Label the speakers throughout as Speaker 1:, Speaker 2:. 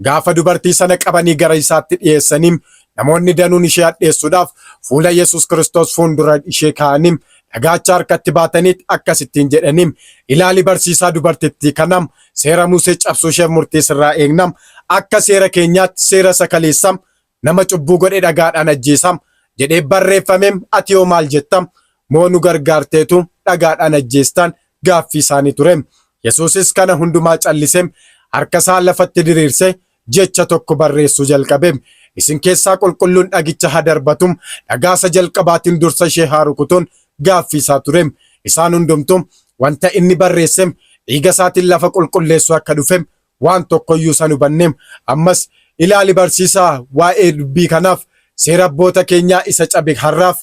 Speaker 1: Gaafa dubartii sana qabanii gara isaatti dhiyeessanii namoonni danuun ishee hadheessuudhaaf fuula Yesus Kiristoos fuundura ishee kaa'anii dhagaacha harkatti baataniit akkasittiin jedhanii ilaali barsiisaa dubartittii kanam seera Musee cabsuu isheef murtii sirraa eegnam akka seera keenyaatti seera isa kaleessam Nama cubbuu godhe dhagaadhaan ajjeesa jedhee barreeffame ati hoo maal jetta? Moo nu gargaarteetu dhagaadhaan ajjeestaan? gaaffii isaanii ture. Yesuusis kana hundumaa callise, harka isaa lafatti diriirse jecha tokko barreessuu jalqabe. Isin keessaa qulqulluun dhagicha haa darbatu, dhagaa isa jalqabaatiin dursa ishee haa rukutuun gaaffii isaa ture. Isaan hundumtuu wanta inni barreesse dhiiga isaatiin lafa qulqulleessuu akka dhufe Waan tokko iyyuu isa hin hubanneem. Ammas, ilaali barsiisaa, waa'ee dubbii kanaaf, seera abboota keenyaa isa cabe har'aaf,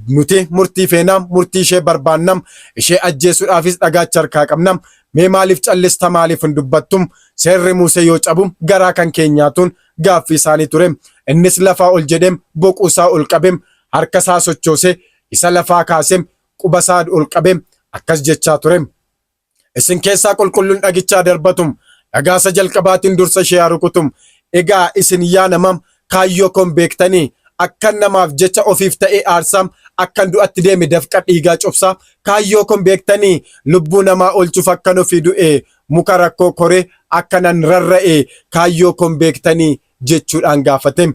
Speaker 1: nuti murtii feenaam, murtii ishee barbaannam, ishee ajjeesuudhaafis dhagaacha harkaa qabnam. Mee maaliif callista maaliif hin dubbattum? Seerri Muusee yoo cabum garaa kan keenyaatuun gaaffii isaanii tureem. Innis lafaa ol jedheem, boquu isaa ol qabeem, harka isaa sochoosee, isa lafaa kaaseem, quba isaa ol qabeem, akkas jechaa tureem. Isin keessaa qulqulluun dhagichaa darbatum, dhagaa isa jalqabaatiin dursa ishee haa rukutum. Egaa isin yaa namam, kaayyoo koon beektanii? Akkan namaaf jecha ofiif ta'ee aarsaam, akkan du'atti deeme dafqa dhiigaa cobsaa? Kaayyoo koon beektanii? Lubbuu namaa oolchuuf akkan ofii du'e, muka rakkoo koree akka nan rarra'e kaayyoo koon beektanii? jechuudhaan gaafatem.